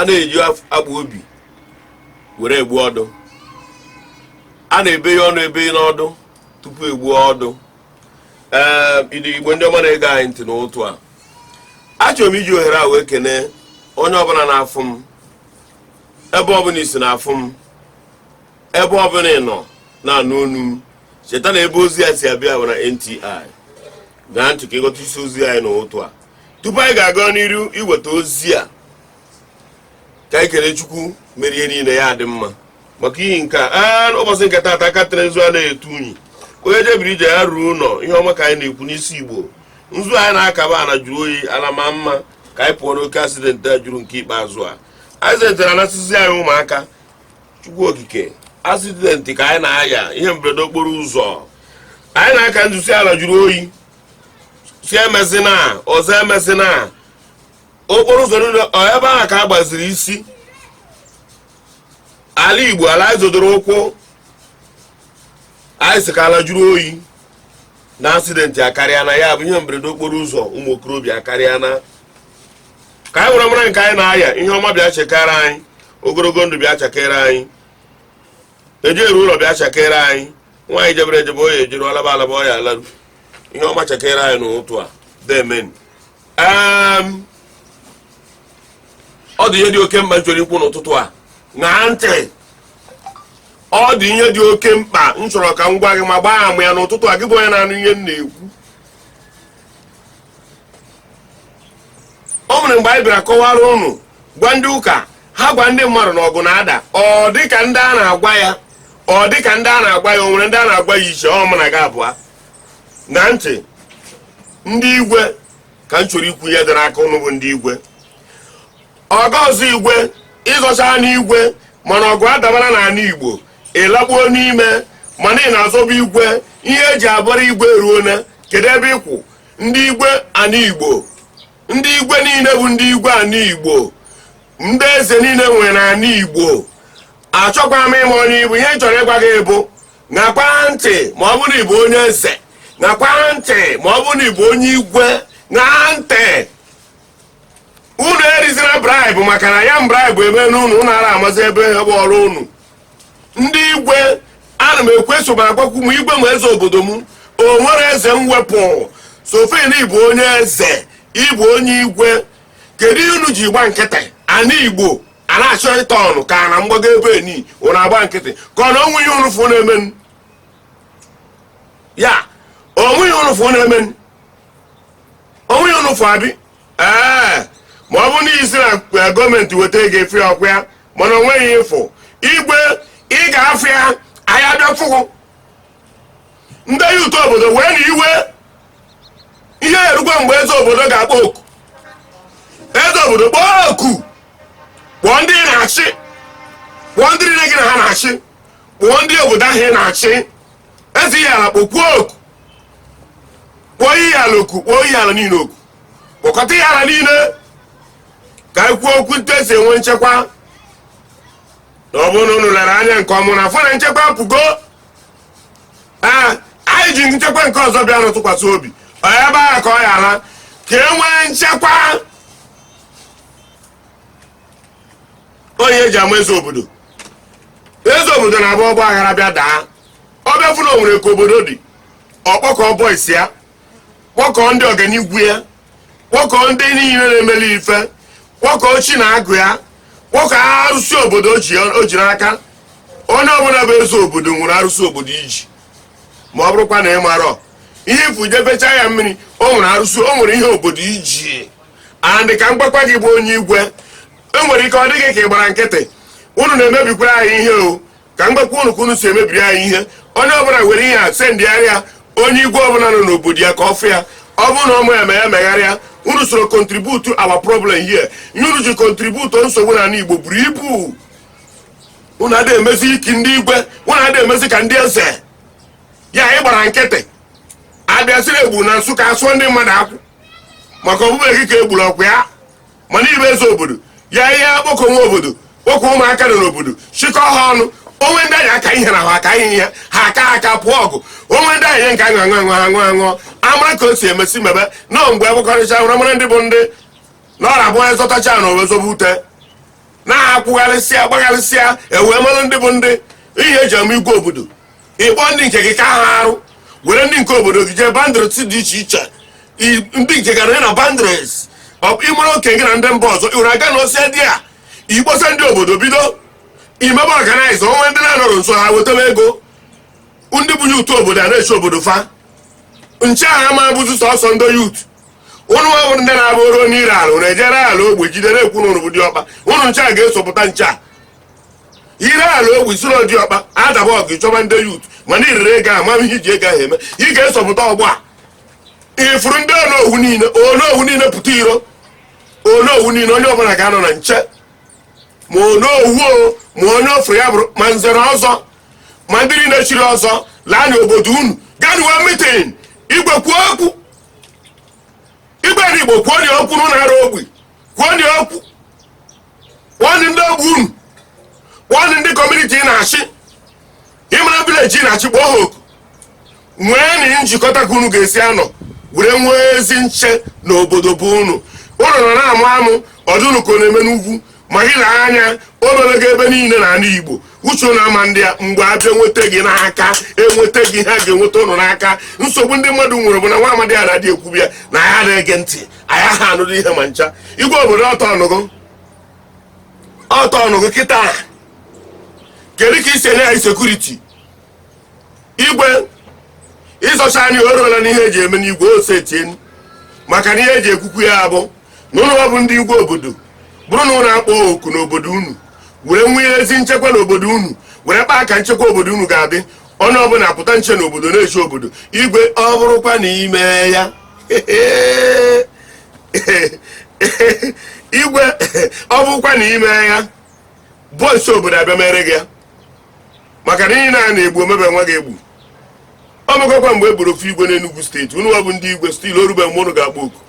a na-eji akpa obi were egbu ọdụ a na-ebe ya ọnụ ebe n'ọdụ tupu egbuo ọdụ ee ndị igbo ndị ọma na-ege anyị ntị n'ụtụtụ a achọrọ m iji ohere a wee kene onye ọbụla na-afụ m ebe ọbụla ị si na-afụ m ebe ọbụla ị nọ na-anụ onu m cheta na ebe ozi a si abịa bụ na nti ṅaa ntị ka ị ghọta isi ozi anyị n'ụtụtụ a tupu anyị ga-aga n'iru iweta ozi a ka anyị kele chukwu mere ihe niile ya dị mma maka ihi nke a ụbọchị nke taata aka tere nzu anaghị ete unyi onye jebere ije ya ruo ụlọ ihe ọma ka anyị na-ekwu n'isi igbo nzu anyị na-akaba ana jụrụ oyi ala ma mma ka anyị pụọ n'oke accident a juru nke ikpeazụ a accident na-anasịzi anyị ụmụaka chukwu okike accident ka anyị na-aya ihe mberede okporo ụzọ anyị na-aka nzu sị ala jụrụ oyi sị emezina ọzọ emezina okporo ụzọ niile ọ ebe ahụ ka a gbaziri isi ala igbo ala anyị zodoro ụkwụ anyị sị ka ala jụrụ oyi na accident akarịana ya bụ ihe mberede okporo ụzọ ụmụ okorobịa akarịana ka anyị were mara nke anyị na-aya ihe ọma bịa chakere anyị ogologo ndụ bịa chakere anyị ejeru ụlọ bịa chakere anyị nwa anyị jebere ejebe ọ ya-ejeru ọ laba alaba ọ ya-alaru ihe ọma chakere anyị n'ụtụtụ a deemenụ Em, ọ dị ihe dị oke mkpa m chọrọ ikwu n'ụtụtụ a ṅaa ntị ọ dị ihe dị oke mkpa m chọrọ ka m gwa gị ma gbaa ama ya n'ụtụtụ a gị bụ onye na-anụ ihe m na-ekwu o nwere mgbe anyị bịara kọwara ụnụ gwa ndị ụka ha gwa ndị mmadụ na ọgụ na-ada ọ dị ka ndị a na-agwa ya ọ dị ka ndị a na-agwa ya o nwere ndị a na-agwa ya iche ọ mụ na gị abụọ na ntị ndị igwe ka m chọrọ ikwu ihe dị n'aka ụnụ bụ ndị igwe ọ ga-azọ igwe ị zọcha n'igwe mana ọgụ adabara n'ala igbo ị lakpuo n'ime mana ị na-azọba igwe ihe e ji abara igwe eruona kedu ebe ị kwụ ndị igwe ana igbo ndị igwe niile bụ ndị igwe ana igbo ndị eze niile nwere ana igbo achọkwa m ịma onye ị bụ ihe m chọrọ ịgwa gị bụ ṅakwa ntị ma ọ bụrụ na ị bụ onye eze ṅakwa ntị ma ọ bụrụ na ị bụ onye igwe ṅaa ntị unu erizina bribe maka na ya bribe emena unu unu ara amazi ebe ihe bụ ọrụ unu ndị igwe ana m ekweso ma agwakwu m igwe ma eze obodo m o nwere eze m wepụ so far na ị bụ onye eze ị bụ onye igwe kedu ihe unu ji gba nkịtị ana igbo a na-achọ ịta ọnụ ka na mgbago ebe eni unu agba nkịtị ka ọ na o nweghị ihe unu fụ na-emenụ ya o nweghị ihe unu fụ na-emenụ o nweghị ihe unu fụ abi ee ma ọ bụ na a sị na eh, government weta ego efe ọkwa ya mana o nweghị ịfụ igwe ị ga-afụ ya anya bịa fụgụ ndị youth obodo wee na iwe ihe erugo mgbe eze obodo ga-akpọ oku eze obodo kpọọ oku kpọọ ndị ị na-achị kpọọ ndị niile gị na ha na-achị kpọọ ndị obodo ahụ ị na-achị eze Ihiala kpọkwuo oku kpọọ Ihiala oku kpọọ Ihiala niile oku kpọkọta Ihiala niile ka anyị kwuo okwu etu e si enwe nchekwa na ọ bụrụ na unu lere anya nke ọma unu afụ na nchekwa apụgo Ee, anyị ji nchekwa nke ọzọ bịa na-atụkwasị obi ọ ya ebe ahụ ka ọ yara ka e nwee nchekwa onye eji ama eze obodo eze obodo na-abụ ọgbaghara bịa daa ọ bịa fụ na o nwere ka obodo dị ọ kpọkọọ boys ya kpọkọọ ndị ọganigwe ya kpọkọọ ndị niile na-emeli ife kpọkọọ chi na agwụ ya kpọkọọ arụsị obodo o ji n'aka onye ọbụla bụ eze obodo nwere arụsị obodo ị ji ma ọ bụrụkwa na ị marọ ihe ifu jefecha ya mmiri o nwere arụsị o nwere ihe obodo ji and ka m gwakwa gị bụ onye igwe o nwere ike ọ dị gị ka ị gbara nkịtị unu na-emebikwara anyị ihe o ka m gwakwa unu ka unu si emebiri anyị ihe onye ọbụla were ihe a sendịara onye igwe ọbụla nọ n'obodo ya ka ọ fụ ya ọ bụrụ na ọmụ ya ma ya megharịa unu soro contribute our problem here ihe unu ji contribute nsogbu n'ala igbo buru ibu unu adịghị emezi ka ndị igwe unu adịghị emezi ka ndị eze ya anyị gbara nkịtị a bịa sị na e gburu na nsụka a sụọ ndị mmadụ akwụ maka ọ bụbeghị gị ka e gburu ọkwa ya mana ị bụ eze obodo ị ya-akpọkọwa obodo kpọkọ ụmụaka nọ n'obodo chịkọ ha ọnụ o nwe ndị anyị aka ihe na ha aka ihe ya ha aka aka pụọ ọgụ o nwe ndị anyị nke aṅụ amara ka o si emesi mebe na mgbe agbakọrịcha e wee mara ndị bụ ndị na ọ na-abụ onye zọtacha ana o wee zọbe ute na-akwụgharịsịa gbagharịsịa e wee mara ndị bụ ndị ihe eji ama igwe obodo ịkpọ ndị nke gị ka ha arụ were ndị nke obodo gị jee boundaries dị iche iche I- ndị nke gara ya na boundaries ịmara oke gị na ndị mba ọzọ iwere aga na ose dị a ị kpọsa ndị obodo bido imebe ọganaiza onwe ndị na-anọrọ nso ha wetebe ego ndị bụ yut obodo a na-eche obodo fa nche ha ma bụzi sọsọ ndị yut ụnụ nwa bụrụ ndị na-abụ o ruo n'ire ala ụnụ ejere ala ogbe jide na-ekwu na ụnụ bụ diọkpa ụnụ nche a ga-esopụta nche a ire ala obi zụrụ diọkpa adaba ọgụ chọba ndị yut mana irere ego a mara ihe iji ego ahụ eme ị ga-esopụta ugbu a ifuru ndị onowu niile onowu niile pụta iro onowu niile onye ọbụla ga-anọ na nche ma onowu o ma onye ofere ya bụrụ ma nze na ọzọ ma ndị niile chiri ọzọ laa na obodo unu gaa nwee mitin igwe kwuo okwu igwe na igbo kwuonụ okwu n'ụlọ arụ obi kwuonụ okwu kpọọnụ ndị ogbe unu kpọọnụ ndị kọmuniti ị na-achị ma vileji ị na-achị kpọọ ha oku nweenụ njikọta ka unu ga-esi anọ were nwee ezi nche na obodo bụ unu ụlọ nọ na-amụ amụ ọ dị unu ka ọ na-eme n'ugwu ma gị na anya o mebego ebe niile na ala igbo uche ụnụ ama ndị a mgbe abịa nweta gị n'aka enweta gị ha ga-enweta ụnụ n'aka nsogbu ndị mmadụ nwere bụ na nwa amadi a na-adị ekwubi ya na ya na-ege ntị anyị aha anụrụ ihe ma ncha igwe obodo ọtọ ọnụgụ ọtọ ọnụgụ kịta a. kedu ka i si enye anyị sekuriti igwe ịzọcha anyị o ruola n'ihe eji eme n'igwe ose tie maka na ihe eji ekwukwu ya abụ na ụnụ bụ ndị igwe obodo bụrụ na ụnụ akpọ oku n'obodo unu were nwee ezi nchekwa n'obodo unu were kpaa ka nchekwa obodo unu ga-adị onye ọbụla apụta nche n'obodo na-eche obodo igwe ọ bụrụkwa na ime ya igwe ọ bụkwa na ime ya bọịs obodo abịa mere gị ya maka na ihe na a na-egbu omebe nwa gị egbu ọ mekọkwa mgbe e gburu ofu igwe n'Enugu steeti unu nwa bụ ndị igwe still o rube mgbe unu ga-akpọ oku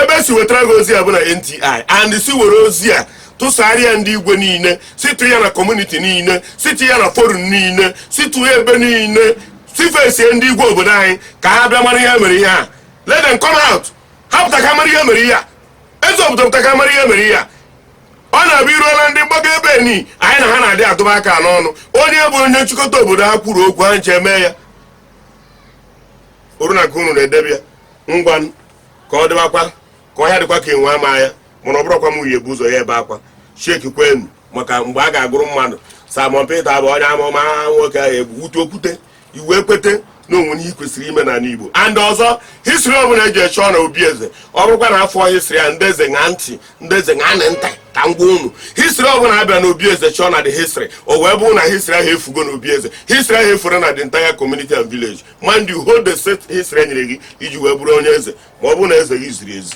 ebe e si wetara gị ozi a bụ na NTI and si were ozi a tụsarịa ndị igwe niile sitụ ya na kọmuniti niile sitụ ya na forum niile sitụ ya ebe niile sifesie ndị igwe obodo anyị ka ha bịa mara ihe mere ihe a let them come out ha pụta ka mara ihe mere ihe a eze obodo pụta ka mara ihe mere ihe a ọ na-abụ iruola ndị mgbago ebe ni anyị na ha na-adị atụba aka n'ọnụ onye bụ onye nchịkọta obodo ha kwuru okwu ha nche mee ya oru na ka unu na-edebe ya ngwa ka ọ dịbakwa ka ọhịa dịkwa ka enwe ama ya mana ọ bụrụkwa m onye bu ụzọ ya ebe akwa sheki kwenu maka mgbe a ga-agụrụ mmadụ Simon Peter bụ onye amụma nwoke ahụ egbu wute okwute i wee kwete na o nwere ihe kwesịrị ime n'ala Igbo and ọzọ history ọbụla eje chọọ na obi eze ọ bụrụkwa na afọ history a ndị eze ṅa ntị ndị eze ṅaanị ntị ka m gwa unu history ọbụla abịa na obi eze chọọ na the history o wee bụrụ na history ahụ efugo na obi eze history ahụ efure na the entire community and village mind you hold the said history e nyere gị iji wee bụrụ onye eze ma ọ bụrụ na eze gị ziri ezi